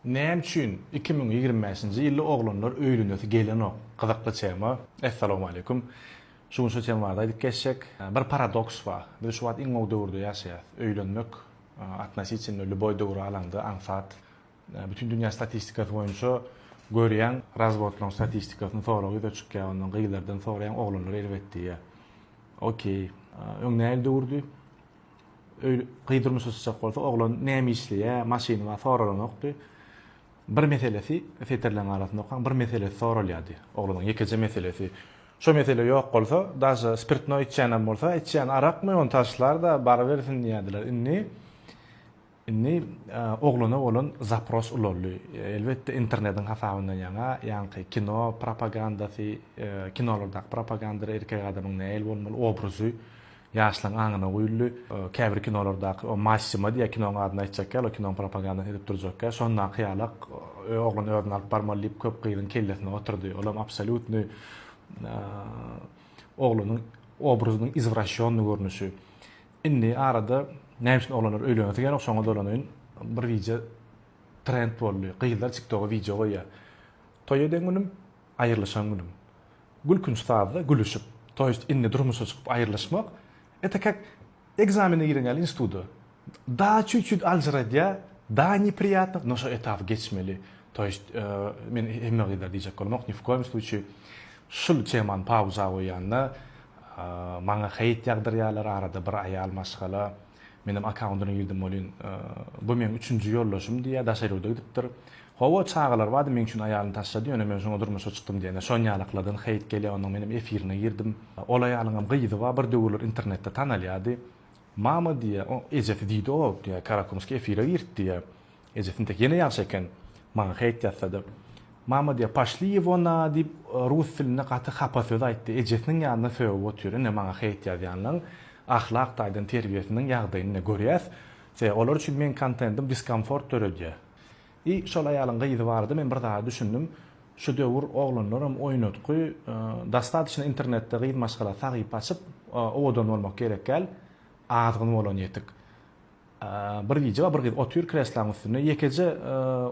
Näme üçin iki müň ýigrimi bäşinji ýylda oglanlar öýlenesi gelenok? Gyzykly tema. Essalowmaleýkum. Şu gün şu tema barada aýdyp geçjek. Bir paradoks bar. Biz şu wagt iň gowy döwürde ýaşaýas. Öýlenmek atnositinno lýuboý döwri alaňda aňsat. Bütin dünýä statistikasy boýunça görýäň, razwodlaryň statistikasyny sorag ýüze çykýar, ondan gyzlardan soraýaň, oglanlar erbet diýýär. Okey. Öň nähili döwürdi? Gyz durmuşa çykjak bolsa, oglan näme işleýär, maşyny bar soralanokdy. Bir meselesi, setirleriň arasynda okaň, bir meselesi soralýardy. Oglanyň ýekeje meselesi. Şo mesele ýok bolsa, daže spirtnoý içýänem bolsa, içýän arakmy, ony taşlar-da, barybersin diýýärdiler. Indi. Indi oglana bolan zapros ulaldy. Elbetde, internetiň hasabyndan ýaňa, ýaňky kino propagandasy, kinolardaky propagandada erkek adamyň nähili bolmaly obrazy ýaşlaryň aňyna guýuldy. Käbir kinolardaky o Massimo diýýär, kinoň adyny aýtjak ýaly, kinoň propagandasyny edip durjak ýaly, şondaky ýala oglan özüni alyp barmaly diýip köp gyzyň kellesine oturdy. Olam absolýutnyý oglanyň obrazynyň izwraşýonnyý görnüşi. Indi arada näme üçin oglanlar öýlenesi gelýän şoňa dolanaýyn. Bir gije trend boldy. Gyzlar tiktoga wideo goýýar. Toý eden günüm, aýrylyşan günüm. Gülkünç sazda gülüşip. To ýest indi durmuşa çykyp aýrylyşmak eta kak ekzamene giren ýaly instituda. Da çüt çüt aljyradýa, da nepriyatno, no şo etapy geçmeli. To ýest men hemme gyzlara diýjek bolamok, ni w koýum sluçi şul temany pauza goýýan da. Maňa heýt ýagdyrýarlar, arada bir aýal maşgala meniň akkaundyna girdim welin, bu meň üçünji ýoldaşym diýýär, daşary ýurda gidipdir. Hawa, çagalar bardy, meň üçin aýalyny taşlady, ýöne men şoňa durmuşa çykdym diýende, şonýalyklardan heýt gelýär, ondan menem efirine girdim. Ol aýalyňam gyzy bar, bir döwürler internetde tanalýardy. Mama diýýär, ejesi diýdi-ow, diýýär, Karakumski efire girt diýýär. Eje tintek ýene ýagşy eken, maňa heýt ýatsady. Mama diýýär, Poşli ýewo na, diýip, rus dilinde gaty hapa söz aýtdy. Ejesiniň ýanynda sögüp otyr. Ine, maňa heýt ýazýanlaň ahlak taýdan terbiýesiniň ýagdaýyny ine, görýäs. Se, olar üçin meň kontentim diskomfort döredýär. I, şol aýalyň gyzy barada men bir zada düşündim. Şu döwür oglanlaram oýnatgy, dostatyçna internetde gyz maşgala sahypa açyp, owadan bolmak gerekgäl, azgyn bolan ýetik. Bir gije bir gyz otyr kreslaň üstünde, ýekeje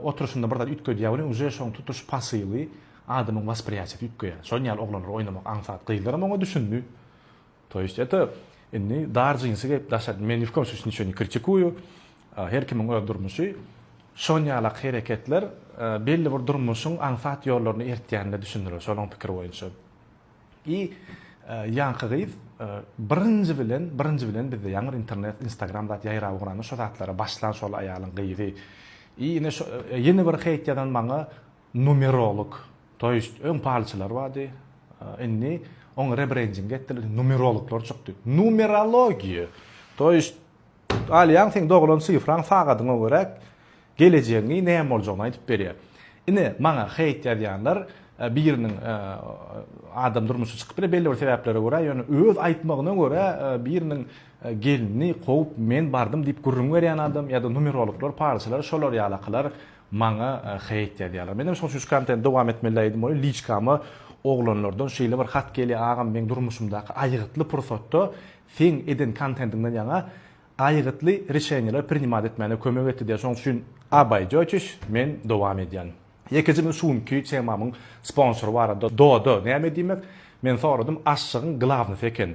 oturyşynda bir zat üýtgedýär welin uje şoň tutuş pasyly, adamyň waspriýatiýasy üýtgeýär. Şol ýaly oglanlar oýnamak aňsat. Gyzlaram oňa düşündi. To ýest eto, indi dar jinsi geýip daşa, men ni w kom slusýe niço ne kritikuýu, her kimiň öz durmuşy. Şon ýalak hereketler belli bir durmuşyň aňsat ýollaryny eritýänine düşündiler, şolaň pikiri boýunça. I ýaňky gyz birinji bilen birinji bilen bizde ýaňy bir internet instagram zat ýaýrap ugranda şo zatlara başlan şol aýalyň gyzy I ine şo ýene bir heýt ýazan maňa numerolog to ýest öň palçylar bardy indi oňa rebrending etdiler numerologlar çykdy numerologiýa to ýest Alýaň, seň doglan sifraň sagadyňa görä gelejegiňi näme boljagyny aýdyp berýär. Ine, maňa heýt ýazýanlar biriniň adam durmuşy çykyp biler belli bir sebäplere görä, ýöne öz aýtmagyna görä biriniň gelini kowup men bardym diýip gürrüň berýän adam ýa-da numerologlar, palçylar şolar ýalakalar maňa heýt ýazýarlar. Menem şoň üçin şu kontent dowam etmeli diýdim welin liçkama oglanlardan şeýle bir hat gelýär agam meň durmuşymdaky aýgytly pursatda seň eden kontentiňden ýaňa aýgytly reşeniýeler prinimat etmäne kömek etdi diýýär şoň üçin abaýjoçiş men dowam edýän. Ýekeje men şu günki temamyň sponsory barada doda näme diýmek men soradym aşşygyň glawnosy eken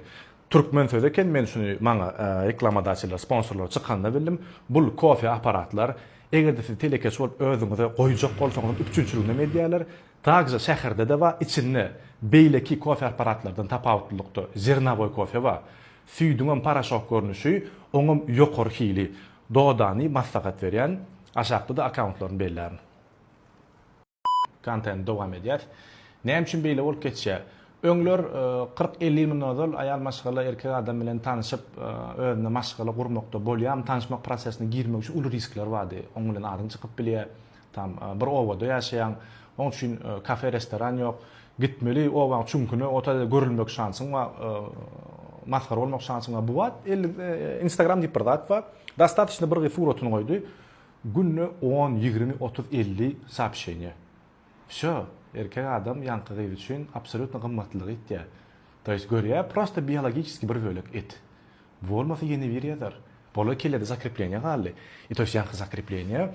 türkmen sözi eken men şuny maňa reklamadaçylar sponsorlar çykanda bildim bul kofe aparatlar egerde siz telekeçi bolup özüňize goýjak bolsaňyzam üpjünçiliginem edýärler Takja şäherde-de bar, içinde beýleki kofe apparatlardan tapawutlylykda zernowoý kofe bar. Süýdüňem poroşok görnüşi, oňam ýokary hili. Dodany maslahat berýän, aşakda-da akkauntlaryny bellärin. Kontent dowam edýär. Näme üçin beýle bolup geçýär? Öňler kyrk elli ýyl mundan ozal aýal maşgala erkek adam bilen tanyşyp, özüne maşgala gurmakda bolýarmy, tanyşmak prosesine girmek üçin uly riskler bardy. Oň bilen aryň çykyp bilýär. Tam bir obada ýaşaýaň. Oň üçin kafe restoran ýok. Gitmeli obaň çüňküne ota görülmek şansyň bar. Masgara bolmak şansyň bar. Bu wagt instagram diýip bir zat bar. Dostatişno bir gyz suratyny goýdy. Günde on, ýigrimi, otuz, elli soopşeniýa. Wsýo. Erkek adam ýaňky gyz üçin absolýutno gymmatlylygy ýitýär. To ýest görýär prosta biologiçeskiý bir bölek et. Bolmasa ýene biri ýazar. Bola kellede zakrepleniýa galdy. I to ýest ýaňky zakrepleniýa,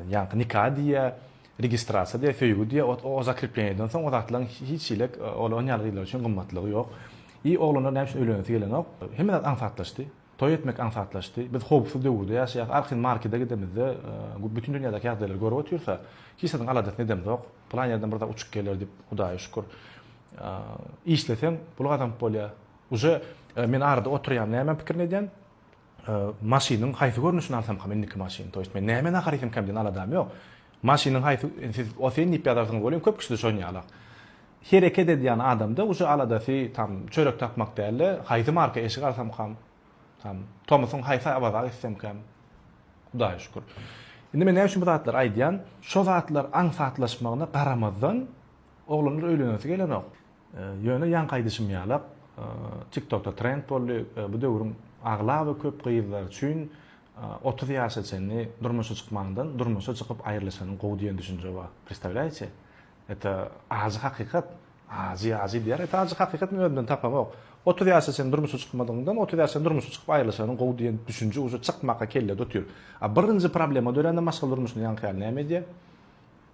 ýaňky nika diýýä, registrasiýa diýýä, söýgi diýýä, ot o zakrepleniýadan soň o zatlaryň hiç hili ol on ýaly gyzlar üçin gymmatlygy ýok. I oglanlar näme üçin öýlenesi gelenok? Hemme zat aňsatlaşdy. Toý etmek aňsatlaşdy. Biz howpsuz döwürde ýaşaýas. Arkin markede gidemizde bütün dünýädäki ýagdaýlary görüp otyrsa, hiç zadyň aladasyny edemzok. Pylan ýerden bir zat uçup geler diýip, Hudaýa şükür. Işleseň pul gazanyp bolýar. Uje men arada oturýan näme pikirini edýän maşynyň haýsy görnüşini alsamkam indiki maşyny to ýest men näme nahar iýsemkäm diýen aladam ýok maşynyň haýsy siz oseýin diýip ýazarsyňyz welin köp kişide şonýalak hereket edýän adamda uje aladasy tam çörek tapmak dälde haýsy marka eşik alsamkam tam tomusyň haýsy awaza gitsemkäm hudaýa şükür indi men näme üçin bu zatlary aýdýan şo zatlar aňsatlaşmagyna garamazdan oglanlar öýlenesi gelenok Ýöne ýaňky aýdyşym ýalak, TikTokda trend boldy, bu döwrüň aglaba köp gyzlary üçin otuz ýaşa çenli durmuşa çykmandan durmuşa çykyp aýrylyşanyň gowy diýen düşünje bar. Predstawlýaýçe? Eta ajy hakykat. Ajy ajy diýer, eta ajy hakykat men özümden tapamok. Otuz ýaşa çenli durmuşa çykmadygyňdan otuz ýaşa çenli durmuşa çykyp aýrylyşanyň gowy diýen düşünje uje çykmaka kellede otyr. A birinji problema dörände maşgala durmuşynda ýaňky ýaly näme edýär?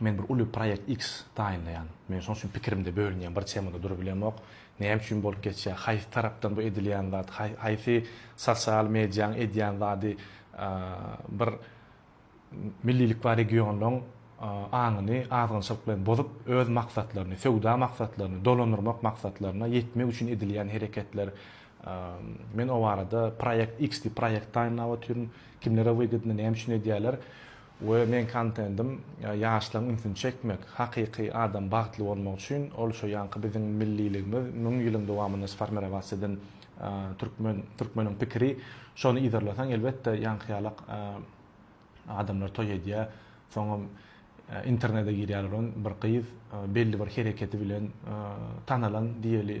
Men bir uly proýekt X taýynlaýan. Men şoň üçin pikirimde bölünýän, bir temada durup bilemok. Näme üçin bolup geçýär? Haýsy tarapdan bu edilýän zat? Haýsy sosial mediýaň edýän zady bir millilik bar regionyň aňyny azgynçylyk bilen bozup, öz maksatlaryny, söwda maksatlaryny, dolandyrmak maksatlaryna ýetmek üçin edilýän hereketler. Men o barada proýekt X diýip proýekt taýynlap otyryn. Kimlere wygydny, näme üçin edýärler? We meň kontentim ýaşlaryň ünsüni çekmek. Hakyky adam bagtly bolmak üçin ol şo ýanky biziň milliligimiz müň ýylyň dowamynda sformirowaciýa eden türkmen türkmeniň pikiri şony yzarlasaň elbetde ýanky ýalak adamlar toý edýä soňam internede girýärler on bir gyz belli bir hereketi bilen tanalan diýeli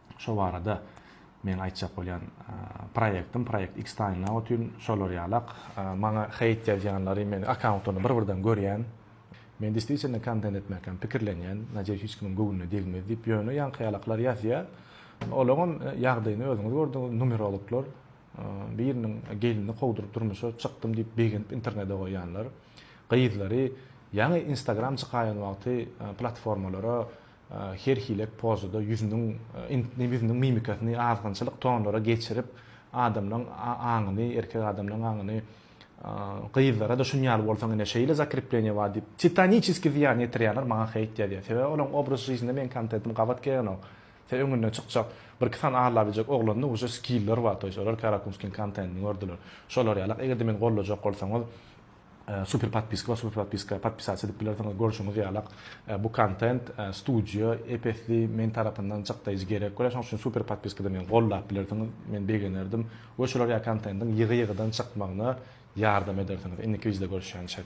şo barada meň aýtjak bolýan proýektim proýekt Xtaýna otyn şolar ýalak maňa heýt ýazýanlary men akkauntlaryny bir birden görýän men diswitielno kontent etmekam pikirlenýän nadeýus hiç kimiň göwnüne degmez diýip ýöne ýaňky ýalaklar ýazýa olaňam ýagdaýyny özüňiz gördüňiz numerologlar biriniň gelnini kowduryp durmuşa çykdym diýip begenip internede goýýanlar gyzlary ýaňy instagram çykaýan wagty platformalara her hile pozada ýüzüniň int-ni ýüzüniň mimikasyny azgynçylyk tonlara geçirip, adamlaň a-aňyny, erkek adamlaň aňyny, gyzlara-da şun ýaly bolsaň ine şeýle zakrepleniýe bar diýip, titaniçeskiý zyýan ýetirýärler, maňa heýt ýazýar. Sebäbi olaň obraz žizinde meň kontentim gabat gelenok. Sen öňünden çykjak, birki sany ala biljek oglanda uje skiller bar, toýs olar Karakumskiň kontentini gördüler. Şolar ýalak, eger-de meni goldajak bolsaňyz, Super podpiska bar super podpiska podpisatsia edip bilersiňiz görşüňiz ýalak bu kontent studio epesli men tarapyndan çykdaýjy gerek görä şoň üçin super podpiskada meni gollap bilersiňiz men begenerdim we şular ýa kontentiň ýygy ýygydan çykmagyna ýardam edersiňiz indiki wideoda görüşýänçek.